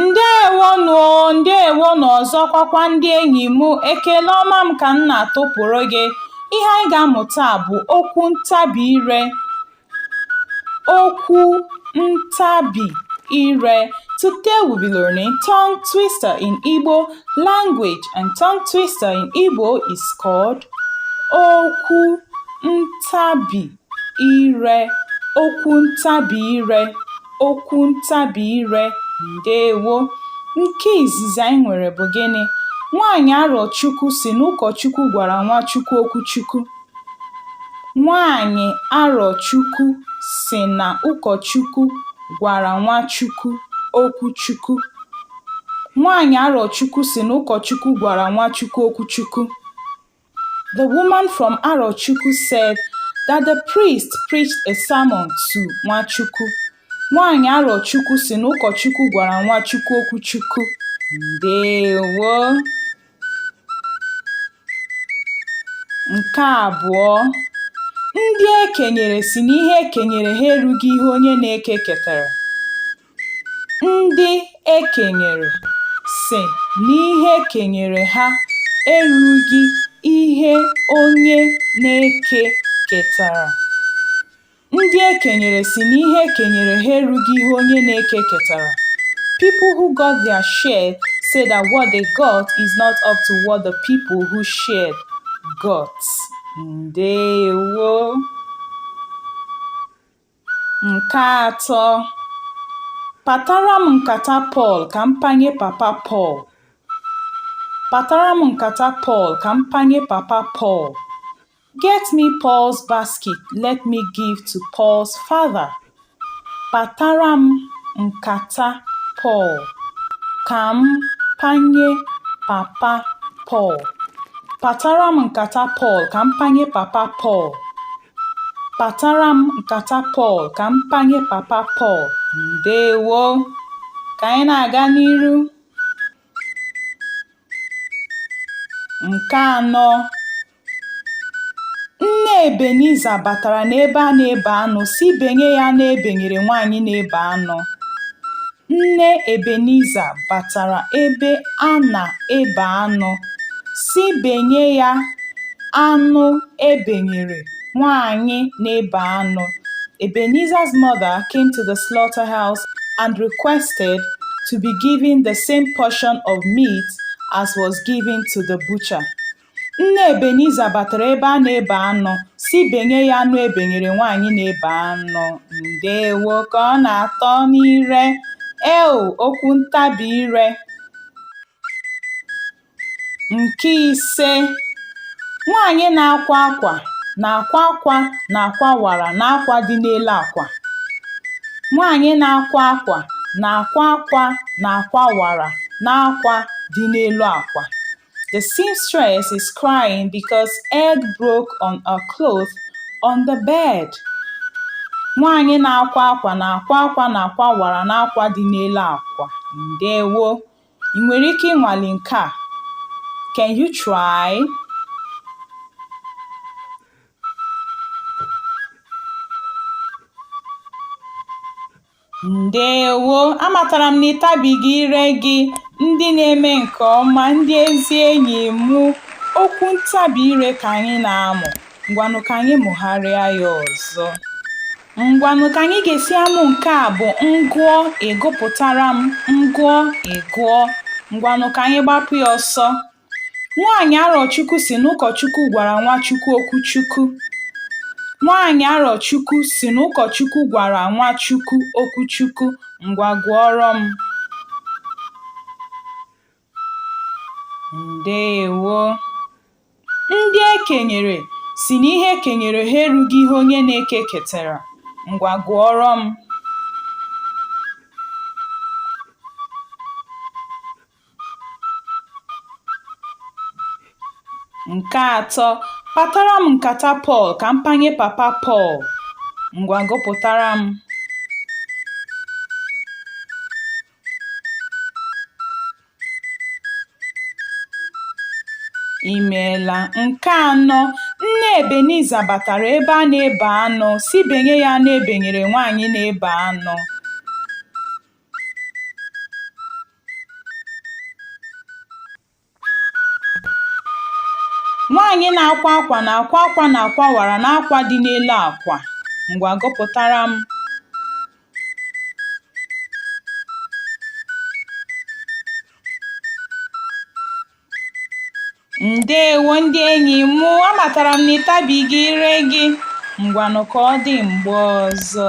ndewonụ o ndewonụ ọzọkwa kwa ndị enyi m ekele ọma m ka m na-atụpụrụ gị ihe anyị ga-amụ taa bụ okwu ntabi ire Okwu ntabi ire. Today we'll be learning tongue twister in Igbo language and tongue twister in Igbo is called okwu ntabi ire. Okwu ntabi ire. Okwu ntabi ire. Ndewo. Nke izizi anyị nwere bụ gịnị? Nwaanyị Arochukwu sị na ụkọchukwu gwara Nwachukwu okwu Chukwu. Nwaanyị Arọchukwu sị na ụkọchukwu gwara Nwachukwu okwu Chukwu. Nwaanyị Arọchukwu sị na ụkọchukwu gwara Nwachukwu okwu Chukwu. The woman from Arochukwu said that the priest preached a sermon to Nwachukwu. Nwaanyị Arọchukwu sị na ụkọchukwu gwara Nwachukwu okwu Chukwu. Ndewo. Nke abụọ, ndị e kenyere sị na ihe e kenyere ha erughị ihe onye na-eke ketara. Ndị e kenyere sị na ihe e kenyere ha erughị ihe onye na-eke ketara. Ndị e kenyere sị na ihe e kenyere ha erughị ihe onye na-eke ketara. People who got their share say that what they got is not up to what the people who shared got. Ndewo. Nke atọ. Patara m nkata Pọl ka m panye papa Pọl. Patara m nkata Pọl ka m panye papa Pọl. Get me Paul's basket, let me give to Paul's father. Patara m nkata Paul, ka m panye papa Paul. Patara m nkata Paul, ka m panye papa Paul. Patara m nkata Paul, ka m panye papa Paul. Ndewo. Ka anyị na-aga n'iru. Nke anọ, Nne Ebeniza batara n'ebe a na-ebe anụ sị benye ya anụ e benyere nwaanyị na-ebe anụ. Nne Ebeniza batara ebe a na-ebe anụ sị benye ya anụ e benyere nwaanyị na-ebe anụ. Ebeniza's mother came to the slaughterhouse and requested to be given the same portion of meat as was given to the butcher. Nne Ebeniza batara ebe a na-ebe anụ sị benye ya anụ e benyere nwaanyị na-ebe anụ. Ndewo ka ọ na-atọ n'ire. Ee okwu ntabi ire. Nke ise, nwaanyị na-akwa akwa na-akwa akwa na akwa wara n'akwa dị n'elu akwa. Nwaanyị na-akwa akwa na-akwa akwa na akwa wara n'akwa dị n'elu akwa. The seamstress is crying because egg broke on a cloth on the bed. Nwaanyị na-akwa akwa na-akwa akwa na akwa wara n'akwa dị n'elu akwa. Ndewo. Ị nwere ike ịnwale nke a? Can you try? Ndewo! Amatara m na ị tabighị ire gị, ndị na-eme nke ọma, ndị ezi enyi mụ, okwu ntabi ire ka anyị na-amụ, ngwanụ ka anyị mụgharịa ya ọzọ. Ngwanụ ka anyị ga-esi amụ nke a bụ m gụọ ị gụpụtara m, m gụọ ị gụọ. Ngwanụ ka anyị gbapụ ya ọsọ. Nwaanyị Arọchukwu si n'ụkọchukwu gwara Nwachukwu okwu Chukwu. Nwaanyị Arọchukwu si n'ụkọchukwu gwara Nwachukwu okwu Chukwu, ngwa gụọrọ m. Ndeewo. Ndị e kenyere sị na ihe e kenyere ha erughị ihe onye na-eke ketara, ngwa gụọrọ m. Nke atọ, patara m nkata Pọl ka m panye papa Pọl. Ngwa gụpụtara m. Imeela. Nke anọ, nne Ebeniza batara ebe a na-ebe anụ sị benye ya anụ e benyere nwaanyị na-ebe anụ Nwaanyị na-akwa akwa na-akwa akwa na akwa wara n'akwa dị n'elu akwa. Ngwa gụpụtara m. Ndewo ndị enyi m, amatara m na ị tabighị ire gị. Ngwanụ ka ọ dị mgbe ọzọ.